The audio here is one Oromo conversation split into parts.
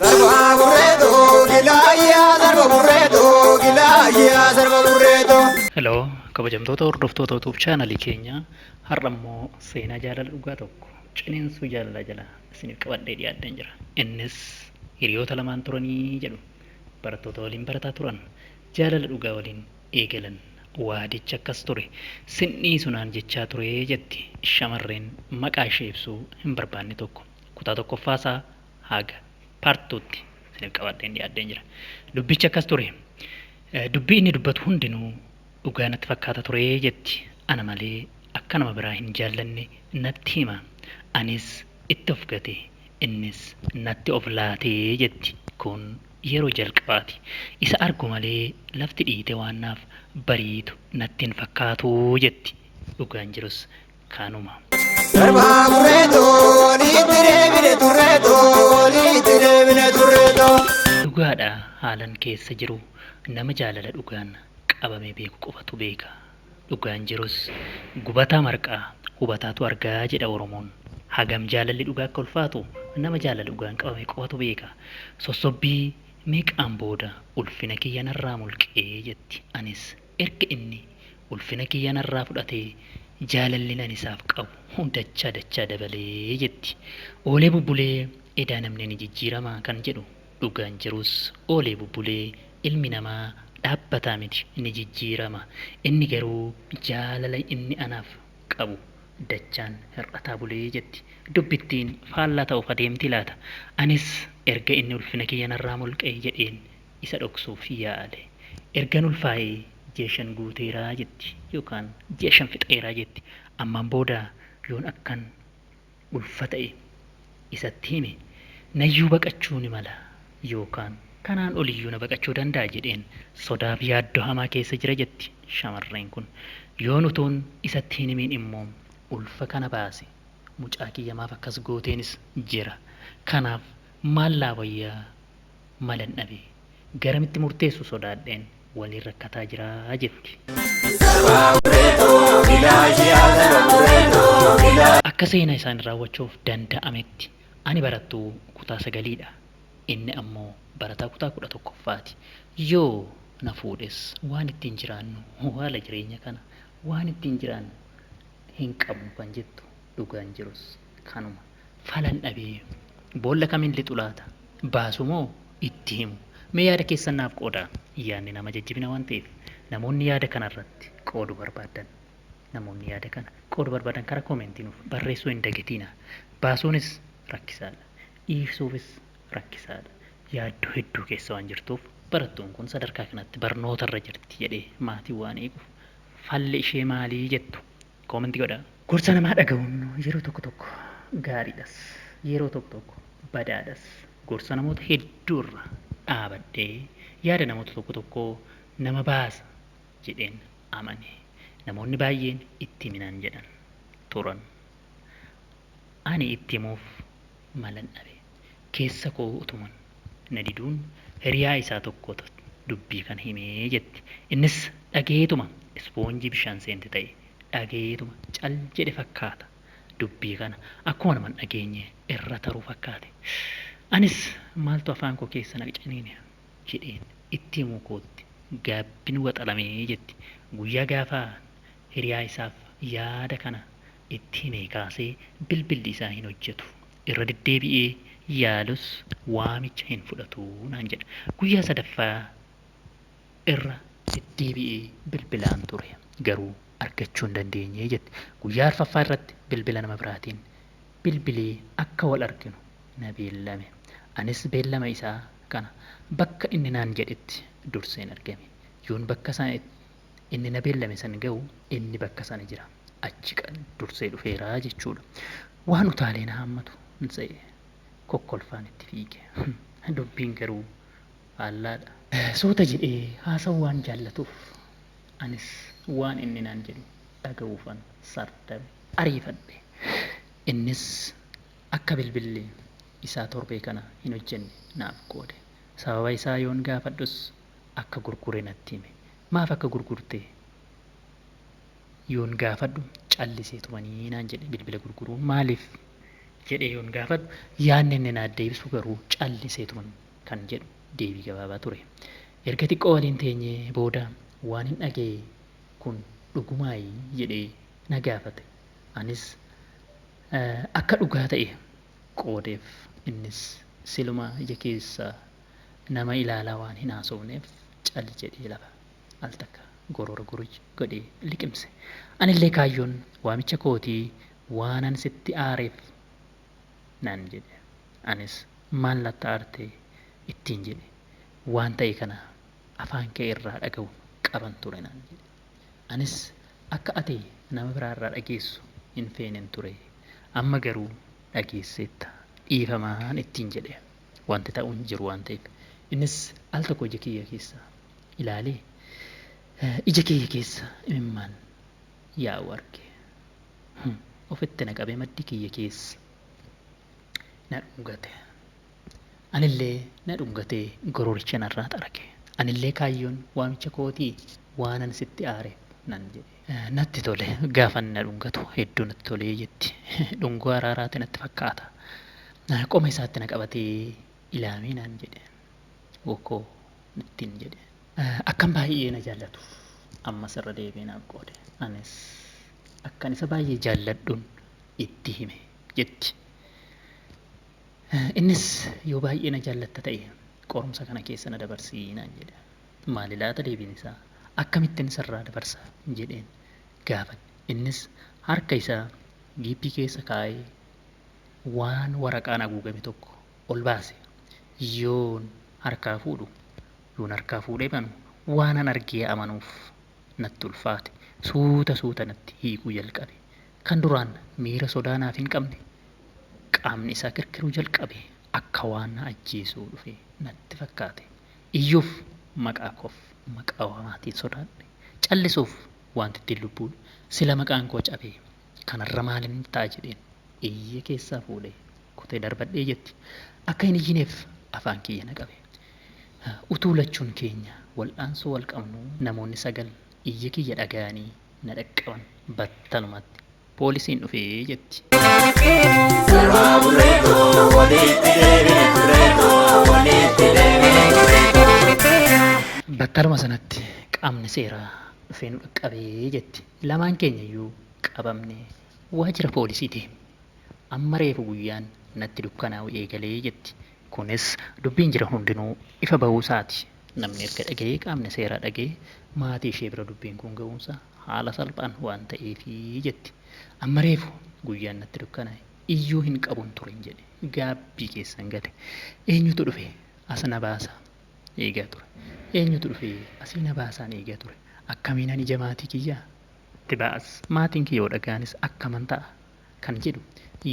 Darba burreetu gilaayyaa darba burreetu gilaayyaa darba burreetu. Hello, kabajamtoota hordoftoota YouTube chaanalii keenya har'a immoo seenaa jaalala dhugaa tokko ciniinsuu jaalalaa jala isiniif qabadhee dhiyaadheen jira. Innis hiriyoota lamaan turanii jedhu barattoota waliin barataa turan jaalala dhugaa waliin eegalan. Waadichi akkas ture. Sin dhiisu naan jechaa ture, jetti shamarreen maqaa ishee ibsuu hin barbaanne tokko. Kutaa tokkoffaa isaa haga part two tti isiniif qabadheen dhiyaadheen jira. Dubbichi akkas ture. Dubbii inni dubbatu hundinuu dhugaa natti fakkaata ture, jetti. Ana malee akka nama biraa hin jaallanne natti hima. Anis itti of gate, innis natti of laate, jetti. Kun Yeroo jalqabaati isa argu malee lafti dhiite waan naaf bariitu natti hin fakkaatu jetti. Dhugaan jirus kanuma. Darbaa murree too niitti deebine turree too niitti deebine turree too. Dhugaadha haalan keessa jiru nama jaalala dhugaan qabamee beeku qofatu beeka. Dhugaan jirus gubataa marqaa hubataatu arga jedha Oromoon. Hagam jaalalli dhugaa akka ulfaatu nama jaalala dhugaan qabame qofatu beeka. Sossobbii meeqaan booda ulfina kiyya narraa mulqe jetti. Anis erga inni ulfina kiyya narraa fudhatee jaalallin ani isaaf qabu dachaa dachaa dabale jetti. Oolee bubbulee edaa namni ni jijjiirama kan jedhu Dhugaan jirus oolee bubbulee ilmi namaa dhaabbataa miti ni jijjiirama. Inni garuu jaalala inni anaaf qabu dachaan hir'ataa bule jetti. Dubbittiin faallaa ta'uuf adeemtii laata? Anis erga inni ulfina kiyya narraa mulqee jedheen isa dhoksuuf yaale. Ergan ulfaa'ee ji'a shan guuteera jetti yookaan ji'a shan fixeera jetti. Ammaan booda yoon akkan. ulfa ta'e isatti hime, nayyuu baqachuu ni mala yookaan kanaan oliyyuu na baqachuu danda'a jedheen sodaaf yaaddoo hamaa keessa jira jetti shamarreen kun. Yoon utuun isatti hin himiin immoo ulfa kana baase mucaa kiyya maaf akkas gooteenis jira. Kanaaf maal naa wayyaa? malan dhabe. Garamitti murteessu sodaadheen waliin rakkataa jira jetti. Akka seenaa isaanii raawwachuuf danda'ametti ani barattuu kutaa sagaliidha. Inni ammoo barataa kutaa kudha tokkoffaati. Yoo na fuudhes waan ittiin jiraannu haala jireenya kana waan ittiin jiraannu hinqabnu kan jettu dhugaan jirus kanuma. falan dhabee. Boolla kamiin lixu laata? Baasu moo itti himu? Mee yaada keessan naaf qoodaa. Yaadni nama jajjabina waan ta'eef namoonni yaada kana irratti qoodu barbaaddan namoonni yaada kana qoodu barbaadan karaa koomentii nuuf barreessuu hin dagatiina. Baasuunis rakkisaadha. Dhiisuufis rakkisaadha. Yaaddoo hedduu keessa waan jirtuuf barattuun kun sadarkaa kanatti barnoota irra jirti jedhee maatiin waan eeguuf falli ishee maalii jettu? Comment godhaa. Gorsa namaa dhaga'uun yeroo tokko tokko gaariidhas, yeroo tokko tokko badaadhas. Gorsa namoota hedduu irra dhaabadhee yaada namoota tokko tokkoo nama baasa jedheen amane. Namoonni baay'een itti himi naan jedhan turan. Ani itti himuuf malan dhabe. Keessa koo utuma na diduun hiriyaa isaa tokkotu dubbii kana hime, jetti. Innis dhagayeetuma ispoonjii bishaan seente ta'e. Dhagayeetuma cal jedhe fakkaata. Dubbii kana akkuma nama hin dhageenye irra taruu fakkaate. Anis maaltu afaan koo keessa na ciniine jedheen itti himuu kootti gaabbin waxalame, jetti. Guyyaa gaafaan hiriyaa isaaf yaada kana itti himee kaasee bilbilli isaa hin hojjetu. Irra deddeebi'ee yaalus waamicha hin fudhatu naan jedha. Guyyaa sadaffaa irra. deddeebi'ee bilbilaan ture. Garuu argachuu hin dandeenye jette. Guyyaa arfaffaa irratti bilbila nama biraatiin bilbilee akka wal arginu na beellame. Anis beellama isaa kana bakka inni naan jedhetti durseen argame. Yoon bakka sana inni na beellame san ga'u inni bakka sana jira. Achi dursee dhufeera jechuudha. Waan utaalee na haammatu hin se'e. Kokkolfaan itti fiige. Dubbiin garuu faallaadha. Suuta jedhee haasa'uu waan jaallatuuf anis waan inni naan jedhu dhaga'uufan sardame. Ariifadhe. Innis akka bilbilli isaa torbee kana hin hojjenne naaf qoode. Sababa isaa yoon gaafadhus akka gurgure natti hime. Maaf akka gurgurte yoon gaafadhu callisee tumanii naan jedhe bilbila gurguruun maaliif jedhee yoon gaafadhu yaadni inni naaf deebisu garuu callisee tuman kan jedhu deebii gabaabaa ture. Erga xiqqoo waliin teenyee booda waanin dhaga'e kun dhugumaayi jedhee na gaafate. Anis akka dhugaa ta'e qoodeef. Innis silumaa ija keessa Nama ilaalaa waan hin haasofneef cal jedhee lafa al takka goroora guruj godhee liqimse. Anillee kaayyoon waamicha kootii waanan sitti aareef naan jedhe. Anis maal natti aarte ittiin jedhe. Waan ta'e kana afaan kee irraa dhagahu qaban ture naan jedhe. Anis akka ati nama biraa irraa dhageessu hin feeneen ture. Amma garuu dhageesseetta dhiifamaan ittiin jedhe. Wanti ta'u hin jiru waan ta'eef. Innis al tokko ija kiyya keessa ilaalee ija kiyya keessa imimmaan yaa'u arge. Ofitti na qabee maddii kiyya keessa na dhungate. Anillee na dhungatee gororicha narraa xarage. Anillee kaayyoon waamicha kootii waanan sitti aareef nan jedhe. Natti tole gaafa inni na dhungatu hedduu natti tolee jetti. Dhungoo araaraati natti fakkaata. Qoma isaatti na qabatee ilaamee naan jedhe. Wokoo ittiin jedhe. Akkan baay'ee na jaallatu ammas irra deebi'ee naaf qoode. Anis akkan isa baay'ee jaalladhun itti hime jetti. Innis yoo baay'ee na jaallatta ta'e qorumsa kana keessa na dabarsii naan jedhe. Maali laata deebiin isaa? Akkamittin sirraa dabarsa? jedheen gaafadhe. Innis harka isaa jiippii keessa kaa'ee waan waraqaan aguugame tokko ol baase. Yoon harkaa fuudhu, yoon harkaa fuudhee banu waanan argee amanuuf natti ulfaate. Suuta suuta natti hiiquu jalqabe. Kan duraan miira sodaa naaf hin qabne qaamni isaa kirkiruu jalqabe. Akka waan na ajjeesuu dhufe natti fakkaate. Iyyuuf maqaa koof maqaa waamaatiin sodaadhe callisuuf waan diddeen lubbuu sila maqaan koo cabee kanarra maalin ta'a jedheen iyyee keessaa fuudhee kutee darbadhee jetti akka hin iyyineef afaan kiyya na qabe utuu lachuun keenya wal'aansoo wal qabnuu namoonni sagal iyya kiyya dhagayanii na dhaqqaban battalumatti Poolisiin dhufe jetti. Sarwaa burreetoo walitti deebine burreetoo walitti deebine burreetoo. Battaluma sanatti qaamni seeraa dhufee nu dhaqqabe jetti. Lamaan keenya iyyuu qabamne waajjira poolisii deemne. Amma reefu guyyaan natti dukkanaa'u eegale jetti. Kunis dubbiin jiran hundinuu ifa bahuu isaati. Namni erga dhagahee qaamni seeraa dhagahee maatii ishee bira dubbiin kun gahuun isaa haala salphaan waan ta'eefi, jetti. Amma reefu guyyaan natti dukkanaa'e. Iyyuu hin qabun turen jedhe. Gaabbii keessan gale. Eenyutu dhufe as na baasa eegaa ture. Eenyutu dhufee asii na baasaan eegaa ture. Akkamiinan ija maatii kiyyaa? tti ba'as. Maatiin kiyya yoo dhagahanis akkaman ta'a? kan jedhu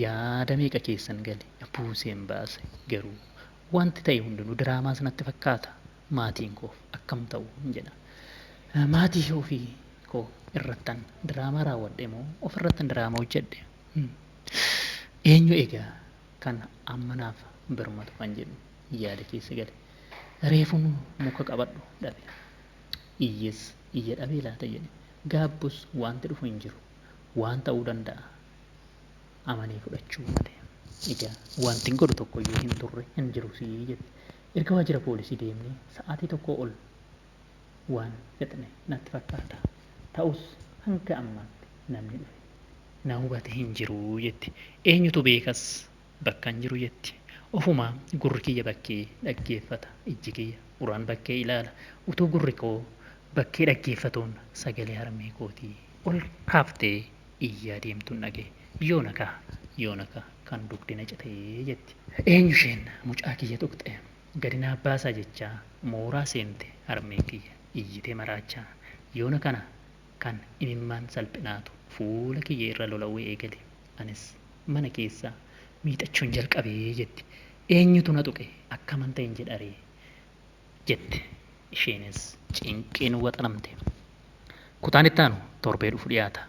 yaada meeqa keessan gale? Buuseen baase garuu. Wanti ta'e hundinuu diraamaas natti fakkaata. Maatiin koof akkam ta'uun jedha. Maatii ofii koo irrattan diraamaa raawwadhe moo ofirrattan diraamaa hojjedhe? Eenyu egaa kan amma naaf birmatu kan jedhu yaada keessa gale. Reefun muka qabadhu dhabe. Iyyes iyya dhabee laata jedhe. Gaabbus wanti dhufu hin jiru. waan ta'uu danda'a amanee fudhachuu malee. Egaa wanti hin godhu tokko iyyuu hin turre hin jiru sii jette. Erga waajjira poolisii deemnee sa'aatii tokkoo ol waan fixne natti fakkaata. Ta'us hanga ammaatti namni dhufe na hubate hin jiru jetti. Eenyutu beekas bakkan jiru jetti. Ofumaa gurri kiyya bakkee dhaggeeffata, ijji kiyya uraan bakkee ilaala. Utuu gurri koo bakkee dhaggeeffatuun sagalee harmee kootii Ol kaaftee iyyaa deemtuun dhaga'e. Yoona kaa! Yoona kaa! Kan dugdi na cite! jetti. Eenyu isheen? Mucaa kiyya tuqxe! Gadi naa baasaa jechaa mooraa seente harmeen kiyya iyyitee maraachaa. Yoona kana kan imimmaan salphinaatu fuula kiyya irra lola'uu eegale. Anis mana keessa miixachuun jalqabe jetti. Eenyutu na tuqe? Akkaman ta'en jedharee? jette isheenis cinqiin waxalamte. Kutaan itti aanu torbee dhufu dhiyaata.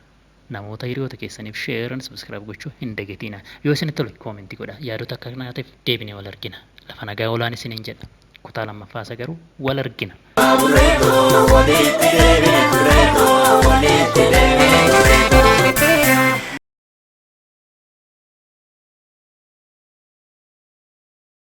Namoota hiriyoota keessaniif share and subscribe gochuu hin dagatiina. Yoo isinitti tole comment godhaa. Yaadota akka kanaatiif deebinee wal argina. Lafa nagaa olaan isiniin jedha. Kutaa lammaffaa isa garuu wal argina. Burreekoo walitti deebine burreekoo walitti deebine burreekoo.